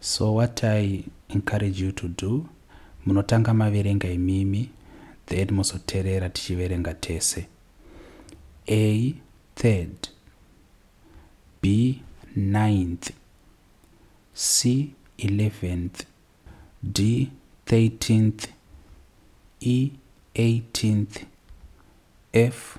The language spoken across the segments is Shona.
So what I encourage you to do munotanga maverenga imimi then mozoterera tichiverenga tese. A third B ninth C eleventh D thirteenth E eighteenth F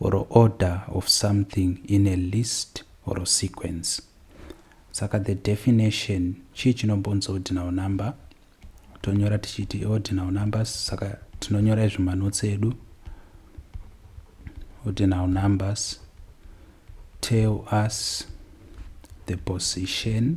or order of something in a list or sequence saka the definition chii chinombonzi ordinal number tonyora tichiti ordinal numbers saka tinonyora izvi manotsi edu ordinal numbers tell us the position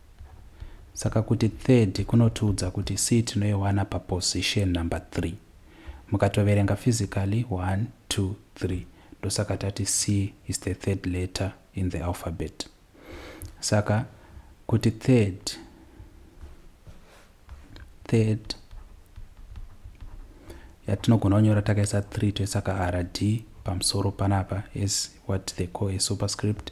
Saka kuti third kunotiudza kuti C tinoiwana paposition number three. Mukatoverenga physically one, two, three ndosaka tati C is the third letter in the alphabet. Saka kuti third, third yatinogona kunyora takaisa three toisa ka rd pamusoro panapa as what they call a superscript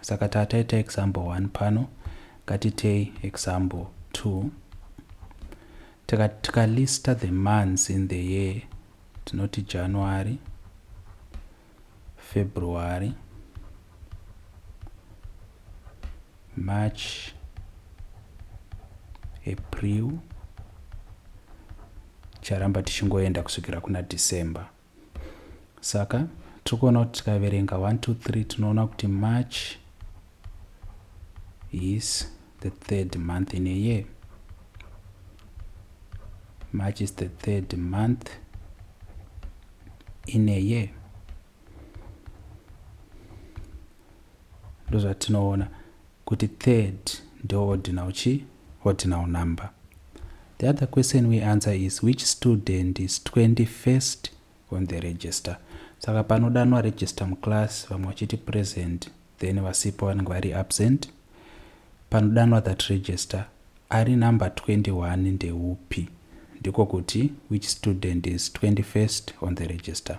Saka ta taita example 1 pano, ngatitei example 2. Tika, tika lista the months in the year, tinoti January, February, March, April, charamba tichingoenda kusvikira kuna December. saka tiri kuona kuti tikaverenga 1 2 3 tinoona kuti march is the third month in a year march is the third month in a year ndozvatinoona Kuti third ndo ordinal chii? Ordinal number. The other question we answer is which student is 21st on the register. Saka panodanwa register muclass vamwe vachiti present then vasipo vanenge vari absent. Panodanwa that register ari number 21 ndeupi? Ndiko kuti which student is 21st on the register.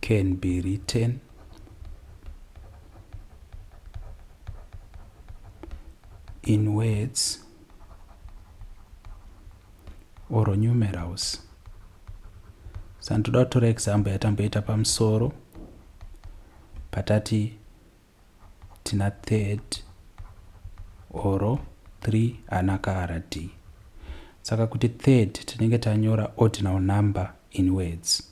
can be written in words or numerals sani toda kutora example yatamboita pamusoro patati tina third oro three ana kara d saka kuti third tinenge tanyora ordinal number in words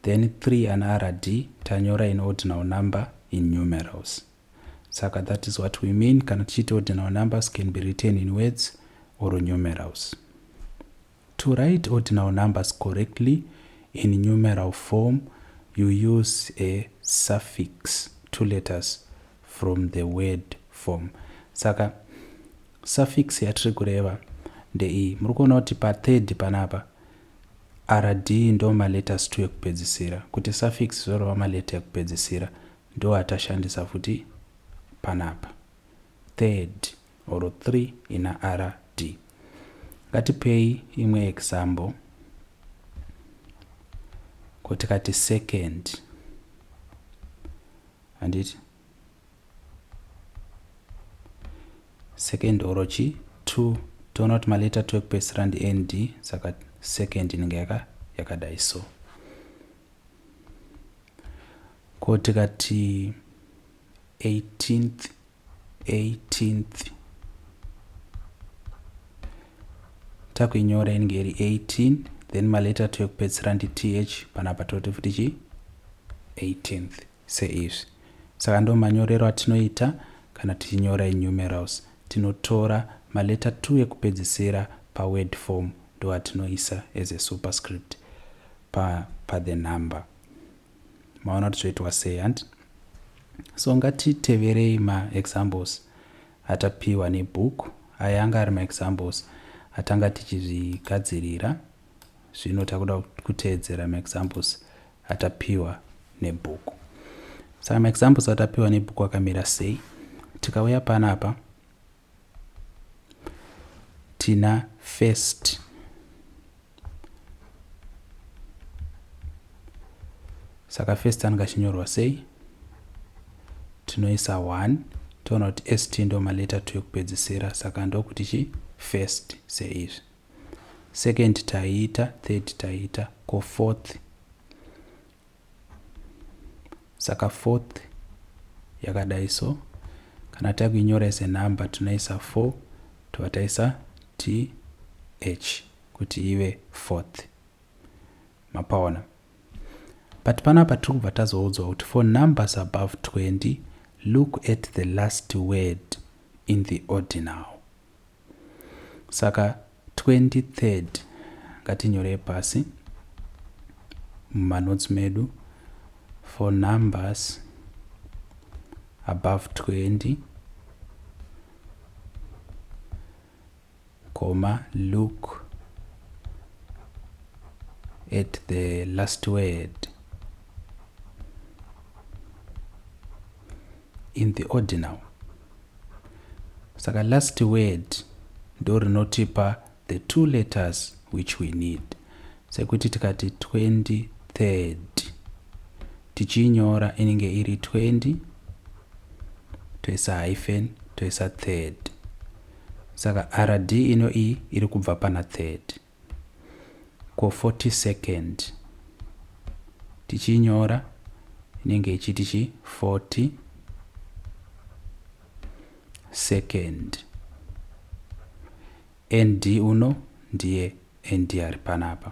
then three ana rd tanyora in ordinal number in numerals saka that is what we mean kana tichiti ordinal numbers can be written in words or numerals To write ordinal numbers correctly in numeral form you use a suffix, two letters from the word form. Saka suffix yatiri kureva ndeiyi. Muri kuona kuti pa third panapa rd ndo maletters two ekupedzisira. Kuti suffix zvorova maleta ekupedzisira ndo atashandisa futi panapa. Third. or 3 ina rd. Ngatipei imwe example. Ko tikati second handiti second or chi 2 toona kuti maleta 2 ekupedzisira ndi nd saka second inenge yaka yakadai so ko tikati 18th 18th takuinyora inenge iri 18 then maleta to ekupedzisira ndi th panapa toti futi chi 18th seizvi saka ndo manyorero atinoita kana tichinyora inumerals tinotora maleta 2 ekupedzisira paword form ndo atinoisa as a superscript pa, pa the number maona kuti zvoitwa sei handi so ngatiteverei maexamples atapiwa nebook aya anga ari maexamples atanga tichizvigadzirira zvino takuda kuteedzera maexamples atapiwa nebook saka maexamples atapiwa nebook akamira sei tikauya panapa tina first saka first anenge achinyorwa sei tinoisa 1 toona kuti st ndo maleta 2 ekupedzisira saka ndokuti chi first seizvi second taiita third taiita ko fourth saka fourth yakadai so kana takuinyora as a number tinoisa 4 tobva taisa th kuti ive fourth mapaona but panapa tiri kubva tazoudzwa kuti for numbers above 20 look at the last word in the ordinal Saka 23rd ngatinyorei pasi mumanotes medu for numbers above 20 comma look at the last word in the ordinal Saka last word ndorinotipa the two letters which we need. Sekuti tikati 23rd tichiinyora inenge iri 20 toisa hyphen toisa third. Saka rd ino iyi iri kubva pana third. ko 40 second tichinyora inenge ichiti chi 40 second nd uno ndiye nd ari panapa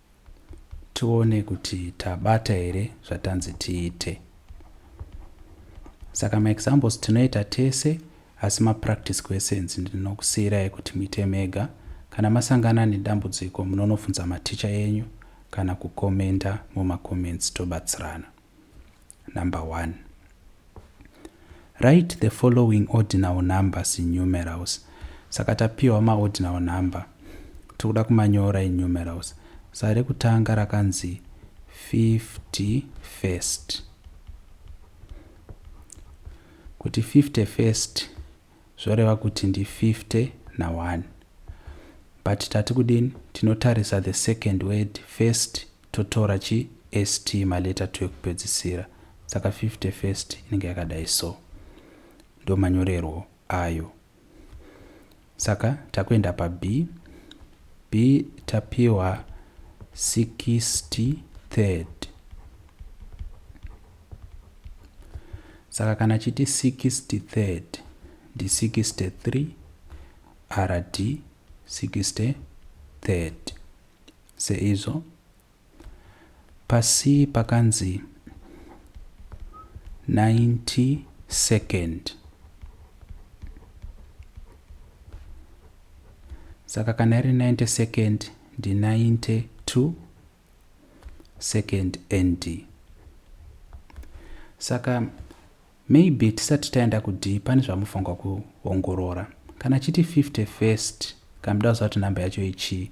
tione kuti tabata here zvatanzi tiite. Saka maexamples tinoita tese asi mapractice questions ndinokusiyirai kuti muite mega. Kana masangana nedambudziko munonofunza maticha enyu kana kukomenda mumacomments tobatsirana. Number 1. Write the following ordinal numbers in numerals. Saka tapiwa maordinal number. Tikuda kumanyora in numerals. Saka rekutanga rakanzi 50 first. Kuti 50 first zvoreva kuti ndi 50 na 1. But tati kudini tinotarisa the second word first Totora chi st ma letter two ekupedzisira saka fifty first inenge yakadai so. Ndo manyorerwo ayo. Saka takuenda pa B. B tapiwa sixty third. Saka kana chiti sixty third ndi sixty three RD sixty third. Seizvo pasi pakanzi 90 second. Saka kana iri 90 second ndi 92 second nd saka maybe tisati taenda kudii pane zvamufanirwa kuongorora kana chiti 50 first kamuda kuziva kuti number yacho ichii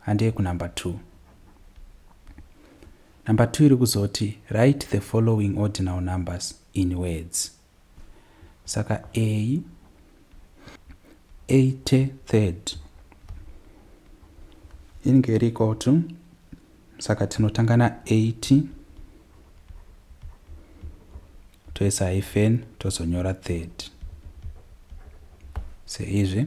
handei kunumber two number two iri kuzoti write the following ordinal numbers in words saka a 83rd inge iri equal to saka tinotanga na 80 toisa hyphen tozonyora 3rd seizvi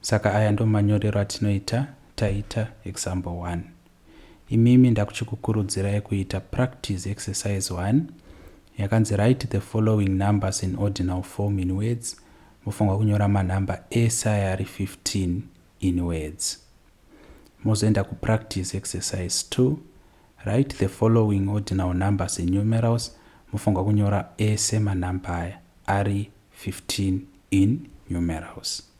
Saka aya ndomanyorero atinoita taita example one. Imimi ndakuchikukurudzirai kuita practice exercise one yakanzi write the following numbers in ordinal form in words mofanirwa kunyora manumber ese aya ari 15 in words. Mozoenda kupractice exercise two write the following ordinal numbers in numerals mofanirwa kunyora ese manumber aya ari 15 in numerals.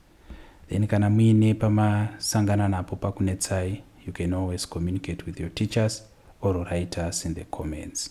Then kana muine pamasangana napo pakunetsai, you can always communicate with your teachers or write us in the comments.